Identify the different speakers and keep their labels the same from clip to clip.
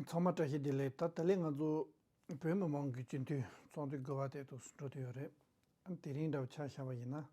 Speaker 1: ཚང་མ་བཀྲ་ཤིས་བདེ་ལེགས་ད་ད་ལེ་ང་ཚོ་བོད་མི་མང་གི་སྤྱི་འཐུས་ཚོགས་འདུ་དགོས་པ་དེ་ཐུགས་སུ་འགྲོ་དུས་ཡོད་རེད་དེ་རིང་འདྲ་ཆགས་བཞག་པ་ཡིན་ན།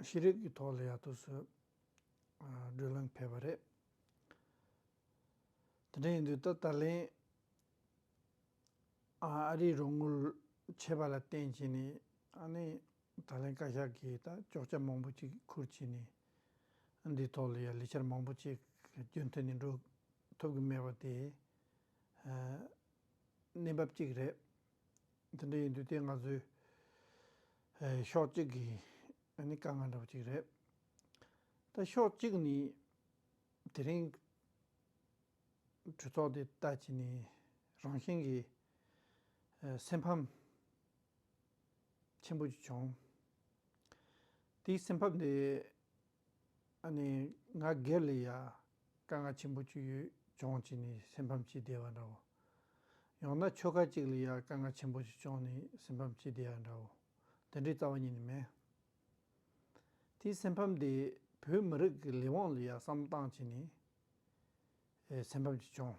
Speaker 1: ཤེས་རིག་གི་ཐོག་ལ་ཡང་ཐུགས་སུ་སྒྲོལ་ལན་ཕེབས་པ་རེད། དེ་འདྲ་ཡིན་དུས་ད་ད་ལེ་ཨ་རིའི་རོགས་དངུལ་ཆད་པ་ལ་བརྟེན་བྱས་ནས་ཨ་ནེ། ད་ལན་བཀའ་ཤག་གིས་ད་ཅོག་ཆ་མང་པོ་ཅིག་ཁུར་བྱས་ནས། འདིའི་ཐོག་ལ་ཡང་ལས་འཆར་མང་པོ་ཅིག་རྒྱུན་མཐུད་ནས་འགྲོ་ཐུབ་ཀྱི་མེད་པ་དེ། གནས་བབ་ཅིག་རེད། དེ་འདྲ་ཡིན་དུས་དེ་ང་ཚོའི། ཕྱོགས་གཅིག་གི་ནི་དཀའ་ངལ་འདྲ་བོ་ཅིག་རེད། ད་ཕྱོགས་གཅིག་ནི། དེ་རིང། གྲོས་ཚོགས་དེ་ལྟ་བྱས་ནས་རང་བཞིན་གྱི། སེམས་ཕམ། ཆེན་པོ་ཞིག་བྱུང། དེའི་སེམས་ཕབ་ནས་ང་སྒེར་ལ་ཡང་དཀའ་ངལ་ཆེན་པོ་ཅིག་ཡོད་བྱུང་བྱས་ནས་སེམས་ཕམ་བྱེད་བསྡད་པ་འདྲ་བོ། ཡང་ན་ཆོལ་ཁ་ཅིག་ལ་ཡང་དཀའ་ངལ་ཆེན་པོ་ཞིག་བྱུང་ནས་སེམས་ཕམ་བྱེད་བསྡད་པ་འདྲ་བོ། འདི་འདྲའི་རྩ་བ་ཉིད་ནས་མེད། དེའི་སེམས་ཕམ་དེས་བོད་མི་རིགས་ཀྱི་ལས་དབང་ལ་ཡང་བསམ་བཏང་བྱས་ནས་སེམས་ཕམ་ཅིག་བྱུང།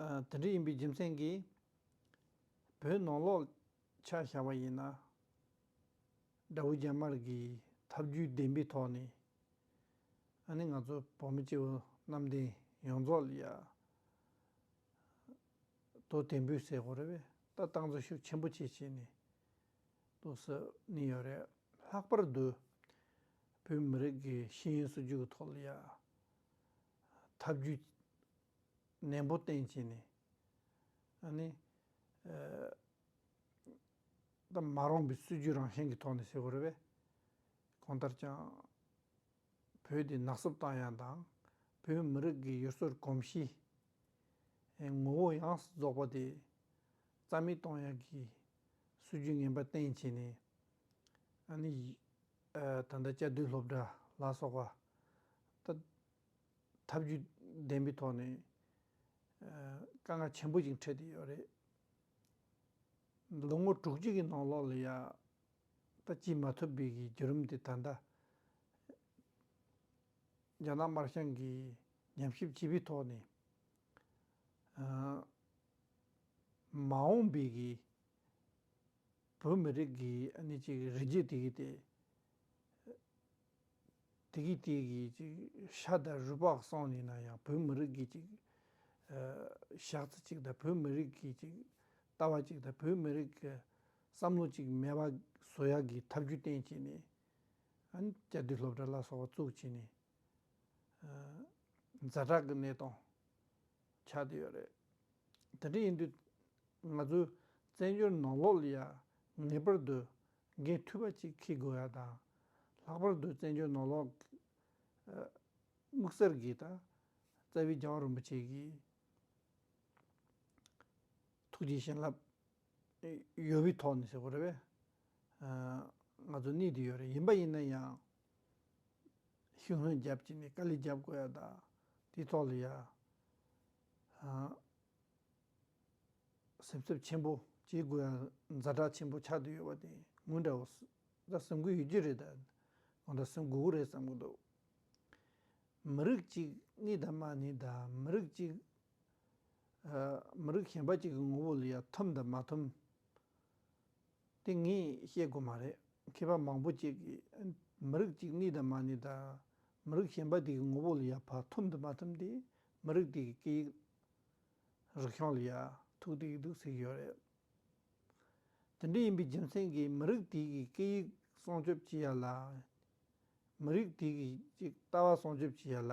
Speaker 1: དེ་འདྲ་ཡིན་པའི་རྒྱུ་མཚན་གྱིས། བོད་ནང་ལོག་ཆ་བཞག་པ་ཡིན་ན། དགྲ་བོ་རྒྱ་དམར་གྱིས་ཐབས་ཇུས་བདེན་པའི་ཐོག་ནས། ཨ་ནི་ང་ཚོ་བོད་མི་སྐྱེ་བོ་གནམ་བསྟན་ཡོངས་རྫོགས་ལ་ཡར། ལྟོ་བདེན་པོས་བསད་དགོས་རེད་པས་ལྟ་སྟངས་འཛུལ་ཞུགས་ཆེན་པོ་བྱེད་བྱས་ནས། ལྟོ་ཟ་ནི་ཡོད་རེད་ལྷག་པར་དུ། བོད་མི་རིགས་ཀྱི་ཤེས་ཡོན་སྲིད་ཇུས་ཀྱི་ཐོག་ལ་ཡར། ཐབས་ཇུས་ནན་པོ་བསྟེན་བྱས་ནས། མ་རུངས་པའི་སྲིད་ཇུས་རང་བཞིན་གྱི་ཐོག་ནས་བྱེད་དགོས་རེད་པས། གང་ལྟར་ཀྱང་བོད་དེ་ནག་བསུབ་བཏང་ཡང་དང་བོད་མི་རིགས་ཀྱི་ཡུལ་སྲོལ་གོམས་གཤིས། ངོ་བོ་ཡངས་སུ་རྫོགས་པ་དེ་རྩ་མེད་གཏོང་ཡག་གི་སྲིད་ཇུས་ངན་པ་བསྟེན་བྱས་ནས། ད་ལྟ་བཅའ་སྡོད་སློབ་གྲྭ་ལ་སོགས་པ་དག་ཐབས་བྱུས་ལྡན་པའི་ཐོག་ནས་དཀའ་ངལ་ཆེན་པོ་ཞིག་འཕྲད་དེ་ཡོད་རེད། ལོ་ངོ་དྲུག་ཅུ་གྱི་ནང་ལོགས་ལ་ཡང་ད་སྐྱིད་མ་ཐུབ་པའི་གི་བརྒྱུད་རིམ་དེ་ད་ལྟ་རྒྱ་ནག་དམར་ཤང་གི་ཉམས་ཞིབ་བྱས་པའི་ཐོག་ནས་མ་འོངས་པའི་གི། བོད་མི་རིགས་ཀྱི་གནས་ཅིག་རི་རྒྱུད་དེ་གི་སྟེ། དེ་གི་སྟེ་གི་ཅིག་ཤ་དང་རུས་པགས་སོགས་ནི་ན་ཡང་བོད་མི་རིགས་ཀྱི་ཅིག། ཞག་རྩི་ཅིག་དང་བོད་མི་རིགས་ཀྱི་ཅིག་ལྟ་བ་ཅིག་དང་བོད་མི་རིགས་ཀྱི་བསམ་བློ་ཅིག་མེད་པ་བཟོ་ཡག་གི་ཐབས་རྒྱུ་གཏན་བྱས་ནས། སྐྱ་དུས་སློབ་གྲྭ་ལ་སོགས་བཙུགས་བྱས་ནས། རྫ་བྲག་གི་གནས་སྟངས། ཆགས་ཀྱི་ཡོད་རེད། དེ་འདྲ་ཡིན་དུས་ང་ཚོའི་བཙན་བྱོལ་ནང་ལོགས་ལ་ཡང་ངེས་པར་དུ་འགན་མཐུ་བ་ཅིག་འཁྱེར་དགོས་ཡ་དང། ལྷག་པར་དུ་བཙན་བྱོལ་ནང་ལོགས་ཀྱི་དམིགས་བསལ་གྱི་ད་རྩ་བའི་རྒྱལ་བ་རིན་པོ་ཆེ་གི་ཐུགས་རྗེ་བྱིན་རླབས། ཡོད་པའི་ཐོག་ནས་ཟེར་བ་རེད་བས། ང་ཚོ་གནས་དེ་ཡོད་རེད་ཡིན་པ་ཡིན་ན་ཡང། ཤུགས་སྣོན་བརྒྱབ་ཅིག་ནས་དཀའ་ལས་བརྒྱབ་དགོས་ཡ་ད། དེའི་ཐོག་ལ་ཡང། སེམས་འཚབ་ཆེན་པོ་བྱེད་དགོས་ཡ་ཛ་དྲག་ཆེན་པོ་ཆགས་དུས་ཡོད་པ་དེ་ངོས་འདྲ་བོ། ད་སེམས་འགུལ་ཡོད་རྒྱུ་རེད་ད། ངོས་འདྲ་སེམས་འགུལ་བོ་རེད་བསམ་གྱི་འདུག། མི་རིགས་གཅིག་གནས་ད་མ་ནི་ད་མི་རིགས་གཅིག། མི་རིགས་གཞན་པ་ཅིག་གི་ངོ་བོ་ལ་ཡང་འཐོམ་དང་མ་འཐོམ་དེ་ངས་བཤད་དགོས་མ་རེད། མཁས་པ་མང་པོ་ཅིག་གིས་མི་རིགས་གཅིག་གནས་དང་མ་གནས་དང། མི་རིགས་གཞན་པ་དེ་གི་ངོ་བོ་ལ་ཡང་བར་འཐོམ་དང་མ་འཐོམ་དེ་མི་རིགས་དེ་གི་སྐད་ཡིག་རིག་གཞུང་ལ་ཡང་ཐུག་ཏུ་ཡི་འདུག་ཟེར་གྱི་ཡོད་རེད། དེ་འདྲ་ཡིན་པའི་རྒྱུ་མཚན་གྱིས་མི་རིགས་དེ་གི་སྐད་ཡིག་སྲུང་སྐྱོབ་བྱེད་ཡ་ལ། མི་རིགས་དེ་གི་ཅིག་ལྟ་བ་སྲུང་སྐྱོབ་བྱེད་ཡ་ལ།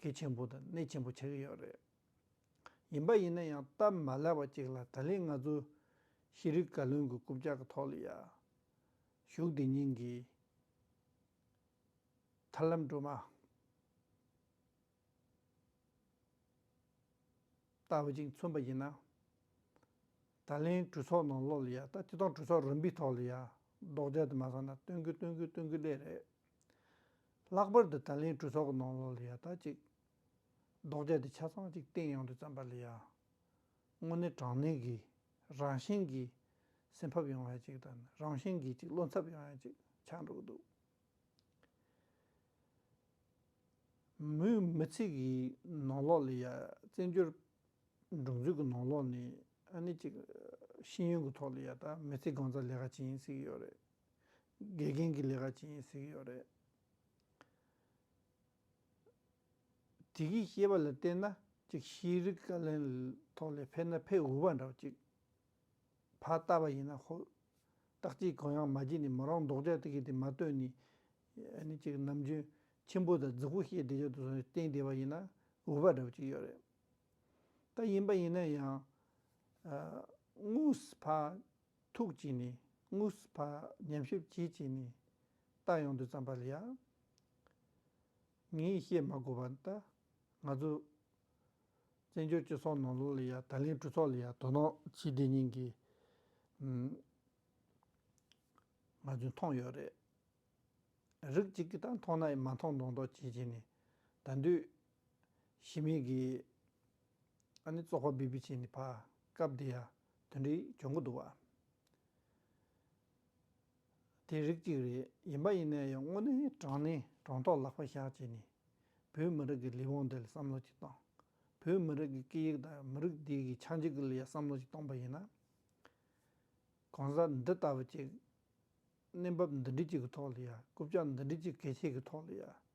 Speaker 1: གལ་ཆེན་པོ་དང་གནད་ཆེན་པོ་ཆགས་ཀྱི་ཡོད་རེད། ཡིན་པ་ཡིན་ན་ཡང་སྟབས་མ་ལེགས་པ་ཅིག་ལ་ད་ལན་ང་ཚོ་ཤེས་རིག་བཀའ་བློན་གྱི་རྐུབ་ལྕག་གི་ཐོག་ལ་ཡར་ཞུགས་དེ་ཉིན་གྱི་ཐར་ལམ་སྒྲོལ་མ་ལྟ་བུ་ཅིག་མཚོན་པ་ཡིན་ན། ད་ལན་གྲོས་ཚོགས་ནང་ལོགས་ལ་ཡར་ལྟ་དེ་དང་གྲོས་ཚོགས་རིམ་པའི་ཐོག་ལ་ཡར་ལྡོག་རྒྱག་དེ་མ་སོང་ན་སྟོན་གི་སྟོན་གི་སྟོན་གི་ལེ་རེད། ལྷག་པར་དུ་ད་ལན་གྲོས་ཚོགས་ཀྱི་ནང་ལོགས་ལ་ཡ་ཐག་ཅིག། ལྡོག་སྐྱ་དེ་ཆ་ཚང་ཅིག་སྟེང་ཡང་དུ་བརྩམས་པ་ལ་ཡ། དངོས་གནས་དྲང་གནས་ཀྱི། རང་བཞིན་གྱི། སེམས་ཕབ་ཡོང་ཡ་ཅིག་དང་རང་བཞིན་གྱི་ཅིག་བློ་འཚབ་ཡོང་ཡ་ཅིག་ཆགས་འགྲོ་གི་འདུག། མོས་མི་ཚིག་གི་ནང་ལོགས་ལ་ཡ། བཙན་བྱོལ། འབྲུག་མཛོད་ཀྱི་ནང་ལོགས་ནས་ཨ་ནི་ཅིག། ཤེས་ཡོན་གྱི་ཐོག་ལ་ཡ་ད་མི་ཚེ་གང་ཙམ་ལས་ཀ་བྱེད་ཡིན་ཟེར་གྱི་ཡོད་རེད། དགེ་རྒན་གྱི་ལས་ཀ་བྱེད་ཡིན་ཟེར་གྱི་ཡོད་རེད། དེ་གིས་ཤེས་པ་ལ་བལྟས་ན་ཅིག་ཤེས་རིག་བཀའ་བློན་ཐོག་ལས་ཕེབས་ན་ཕེབས་འོས་པ་འདྲ་བ་ཅིག་བ་ལྟ་བ་ཡིན་ན་ཧོལ། སྟག་གཅིག་གོ་ཡང་མ་བརྗེད་ནས་མོ་རང་མདོག་ཅག་ཏུ་གྱེས་ཏེ་མ་བལྟོས་ནས་ནི་ཅིག་ནམ་རྒྱུན་ཁྱིམ་བུ་དང་རྫི་བོ་བཤད་བསྡད་ཅག་ཏུ་སོང་ནས་བསྟེན་བསྡད་པ་ཡིན་ན་འོས་པ་འདྲ་བ་ཅིག་ཡོད་རེད། ད་ཡིན་པ་ཡིན་ན་ཡང། དངོས་ཕ་ཐུགས་ཀྱིས་ནི་དངོས་སུ་བག་ཉམས་ཤུགས་ཀྱིས་ཀྱིས་ནི། རྟགས་ཡོངས་འདུས་བརྩམས་པ་ལ་ཡང། ངས་བཤད་མ་དགོས་པར་ད་ང་ཚོ། བཙན་བྱོལ་སྤྱི་ཚོགས་ནང་ལོགས་ལ་ཡང་ད་ལན་གྲོས་ཚོགས་ལ་ཡང་དོ་སྣང་བྱས་བསྡད་མྱིན་གི། ང་ཚོས་མཐོང་ཡོད་རེད། རིགས་གཅིག་གིས་ད་མཐོང་ན་མ་མཐོང་མདོག་མདོག་བྱས་བྱས་ནས་ད་འདོད། ཞི་མི་གིས། ཨ་ནི་ཙོག་པ་བི་བི་ཅན་ནི་བག་སྐབས་འདི་ཡ་དོན་རིགས་འབྱུང་གི་འདུག་བ། དེ་རིགས་གཅིག་རེད་ཡིན་པ་ཡིན་ན་ཡང་དངོས་གནས་དྲང་ནས་དྲང་ཐོག་ལག་པ་བཞག་བྱས་ནས་བོད་མི་རིགས་ཀྱི་ལས་དབང་འདི་ལ་བསམ་བློ་གཅིག་བཏང། བོད་མི་རིགས་ཀྱི་སྐད་ཡིག་དང་མི་རིགས་འདི་གི་ཆག་འཇིག་གི་ལ་ཡ་བསམ་བློ་གཅིག་བཏང་པ་ཡིན་ན། གང་ཟག་འདི་ལྟ་བུ་གཅིག་གནས་བབ་འདི་འདྲི་གཅིག་གི་ཐོག་ལ་ཡ་རྐུབ་ལྕག་འདི་འདྲི་གཅིག་གལ་ཆེ་གི་ཐོག་ལ་ཡ་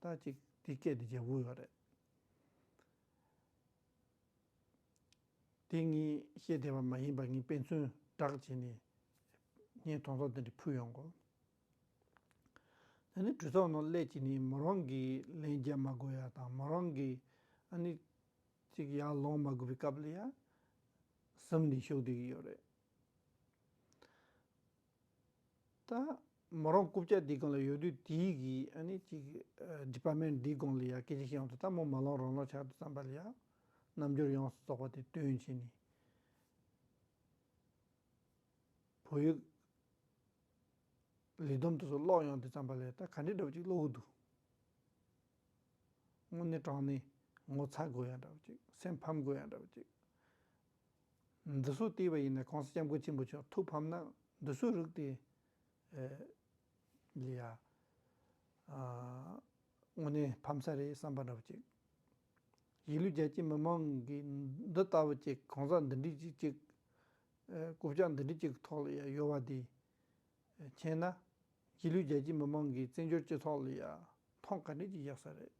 Speaker 1: ལྟ་ཅིག་འདི་སྐད་དུ་རྒྱལ་པོ་ཡོད། དེ་ངས་ཤེས་བདེ་བ་མ་ཡིན་པར་ངས་དཔེ་མཚོན་བསྒྲགས་བྱས་ནས་ངའི་དོང་ཚོགས་འདི་འདྲ་ཕུལ་ཡོང་གོ། ད་ནི་གྲོས་ཚོགས་ནང་སླད་ཀྱིས་ནི་མོ་རང་གིས་ལན་རྒྱག་མ་དགོས་ཡ་དང་མོ་རང་གིས་ཨ་ནི་ཅིག་ཡར་ལོངས་མ་དགོས་པའི་སྐབས་ལ་ཡ་ཟིམ་ནས་ཞུགས་བསྡད་ཀྱི་ཡོད་རེད། ད། མོ་རང་རྐུབ་བཀྱག་འདིའི་སྒང་ལ་ཡོད་དུས་དེའི་གི་ཨ་ནི་ཅིག Department འདིའི་སྒང་ལ་ཡང་སྐད་ཆ་ཤི་ཡོང་དུས་ད་མོ་མ་ལོང་རང་ལོང་ཆགས་འདུག་བསམ་པ་ལ་ཡང། རྣམ་འགྱུར་ཡོངས་སུ་རྫོགས་པ་དེ་སྟོན་བྱས་ནས། བོད་ཡིག། ལི་སྡོམ་དུ་སོགས་ཀློག་ཡོང་དུས་བསམ་པ་ལ་ད་ག་འདྲའི་འདྲ་བོ་ཅིག་ཀློག་གི་འདུག། དངོས་གནས་དྲང་གནས་ངོ་ཚ་དགོས་ཡ་འདྲ་བོ་ཅིག་སེམས་ཕམ་དགོས་ཡ་འདྲ་བོ་ཅིག། འདི་སོགས་བལྟས་པ་ཡིན་ནས་གོང་ས་སྐྱབས་མགོན་ཆེན་པོ་མཆོག་ཐུགས་ཕམ་ན་འདི་སོགས་རིགས་ཏེ། ལི་ཡ། དངོས་གནས་ཕམ་ས་རེད་བསམ་པ་འདྲ་བོ་ཅིག། གཞིས་ལུས་རྒྱ་ཆེ་མི་མང་གིས་འདི་ལྟ་བུ་ཅིག་གང་ཟག་འདི་འདྲི་ཅིག་ཅིག། རྐུབ་བཀྱག་འདི་འདྲི་ཅིག་ཐོག་ལི་ཡ་ཡོད་བ་འདི། མཁྱེན་ན། གཞིས་ལུས་རྒྱ་ཆེ་མི་མང་གིས་བཙན་བྱོལ་སྤྱི་ཐོག་ལི་ཡ་ཐང་ག་འདྲི་ཅིག་བཞག་ས་རེད།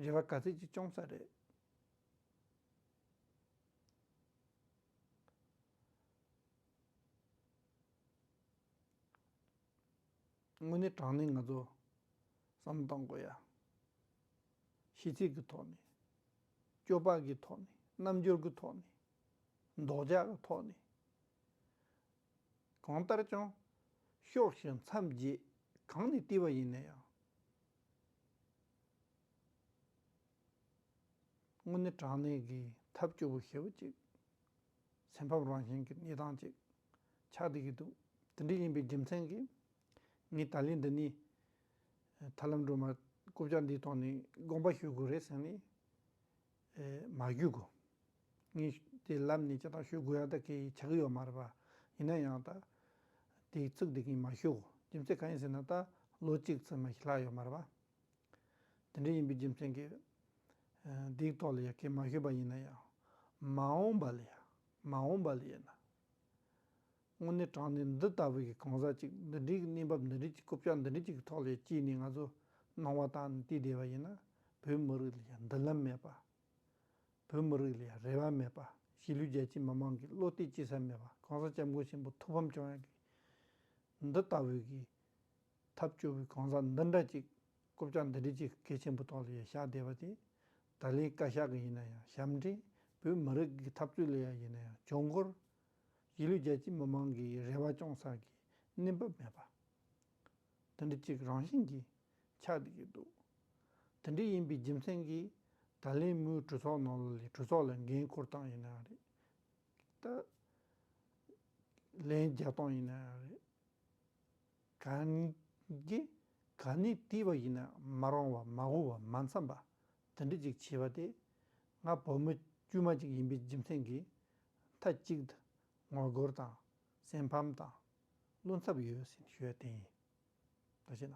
Speaker 1: རེ་བ་ག་ཚད་ཅིག་བཅོམ་ས་རེད། དངོས་གནས་དྲང་གནས་ང་ཚོ་བསམ་བློ་གཏང་དགོས་ཡ། ཤིས་ཚིག་གི་ཐོག་ནས། སྐྱོ་བག་གི་ཐོག་ནས་རྣམ་འགྱུར་གི་ཐོག་ནས། འདོག་འཇག་གི་ཐོག་ནས། གང་ལྟར་ཀྱང། ཤོག་ཤིག་མཚམས་བརྒྱད་གང་ནས་བལྟས་པ་ཡིན་ན་ཡང། དངོས་གནས་དྲང་གནས་ཀྱི་ཐབས་སྐྱོ་བོ་ཞེ་བོ་ཅིག། སེམས་ཕམ་རང་བཞིན་གྱི་གནས་སྟངས་ཅིག་ཆགས་བསྡད་ཀྱི་འདུག་དེ་འདྲ་ཡིན་པའི་རྒྱུ་མཚན་གྱིས། ངས་ད་ལན་འདི་ནས་ཐར་ལམ་སྒྲོལ་མར་རྐུབ་བཀྱག་འདིའི་ཐོག་ནས་དགོངས་པ་ཞུ་དགོས་རེད་ཟེར་ནས་མ་ཞུས་གོ། ངས་དེ་ལབ་ནས་ཅི་ལྟར་ཞུ་དགོས་ཡག་ད་གེ་ཡི་ཆགས་ཀྱི་ཡོད་མ་རེད་པ། ཡིན་ན་ཡང་ད་དེ་ཚུགས་བསྡད་ཀྱིན་མ་ཞུ་གོ་རྒྱུ་མཚན་གང་ཡིན་ཟེར་ན་ད་ལོ་གཅིག་ཚུན་མ་ཞིག་ལྷག་ཡོད་མ་རེད་པ། དེ་འདྲ་ཡིན་པའི་རྒྱུ་མཚན་གྱིས། སྡིག་ཏོ་ལ་ཡ་གས་མ་ཞུས་པ་ཡིན་ན་ཡང། མ་འོངས་པ་ལ་ཡ། མ་འོངས་པ་ལ་ཡ་ན། དངོས་གནས་དྲང་གནས་འདི་ལྟ་བུ་ཞིག་གང་ཟག་ཅིག་འདི་འདྲའི་གནས་བབ་འདི་འདྲའི་རྐུབ་བཀྱག་འདི་འདྲ་ཅིག་གི་ཐོག་ལ་ཡ་སྐྱེས་ནས་ང་ཚོ་སྣང་བ་དག་ནས་བལྟས་བསྡད་པ་ཡིན་ན། བོད་མི་རིགས་ལ་ཡ་མདུན་ལམ་མེད་པ། བོད་མི་རིགས་ལ་ཡ་རེ་བ་མེད་པ་གཞིས་ལུས་རྒྱལ་སྤྱིའི་མི་མང་གིས་བློ་གཏད་བྱེད་ས་མེད་པ་གང་ཟག་སྐྱབས་མགོན་ཆེན་པོ་ཐུགས་ཕམ་བྱུང་ཡ་གས་འདི་ལྟ་བུ་ཞིག། ཐབས་སྐྱོ་བོའི་གང་ཟག་འདི་འདྲ་ཅིག། རྐུབ་ལྕགས་འདི་འདྲས་ཅིག་སྐད་ཆེན་པོ་ཐོག་ལ་ཡང་བཞག་བསྡད་པ་དེ། ད་ལན་བཀའ་ཤག་གི་ཡིན་ན་ཡང་ཞབས་འདྲེན་བོད་མི་རིགས་ཀྱི་འཐབ་རྩོད་ལས་ཡ་ཡིན་ན་ཡང་གྱོང་འཁོར། གཞིས་ལུས་རྒྱལ་སྤྱིའི་མི་མང་གི་རེ་བ་སྐྱོང་ས་ཀྱི་གནས་བབ་མེད་པ། འདི་འདྲ་ཅིག་རང་བཞིན་གྱིས་ཆགས་བསྡད་ཀྱི་འདུག་དེ་འདྲས་ཡིན་པའི་རྒྱུ་མཚན་གྱིས། ད་ལན་མོའི་གྲོས་ཚོགས་ནང་ལ་ལས་གྲོས་ཚོགས་ལ་འགན་འཁུར་སྟངས་ཡིན་ན་ཡང་རེད། ད་ལན་རྒྱལ་སྟངས་ཡིན་ན་ཡང་རེད། གང་གིས་གང་ནས་བཏུས་པ་ཡིན་ན་མ་རུང་བ་མ་འོངས་བ་མ་མཚམས་པ་དེ་འདྲ་ཅིག་བྱས་པ་དེ་ང་བུ་མོ་དཀྱུས་མ་ཅིག་ཡིན་པའི་རྒྱུ་མཚན་གྱིས་མཐའ་གཅིག་ཏུ་ངོ་རྒོལ་དང་སེམས་ཕམ་དང་བླུན་འཚབ་ཡོད་ཟིན་ཞོལ་དེ་ཡིན་ད་བྱས་ན།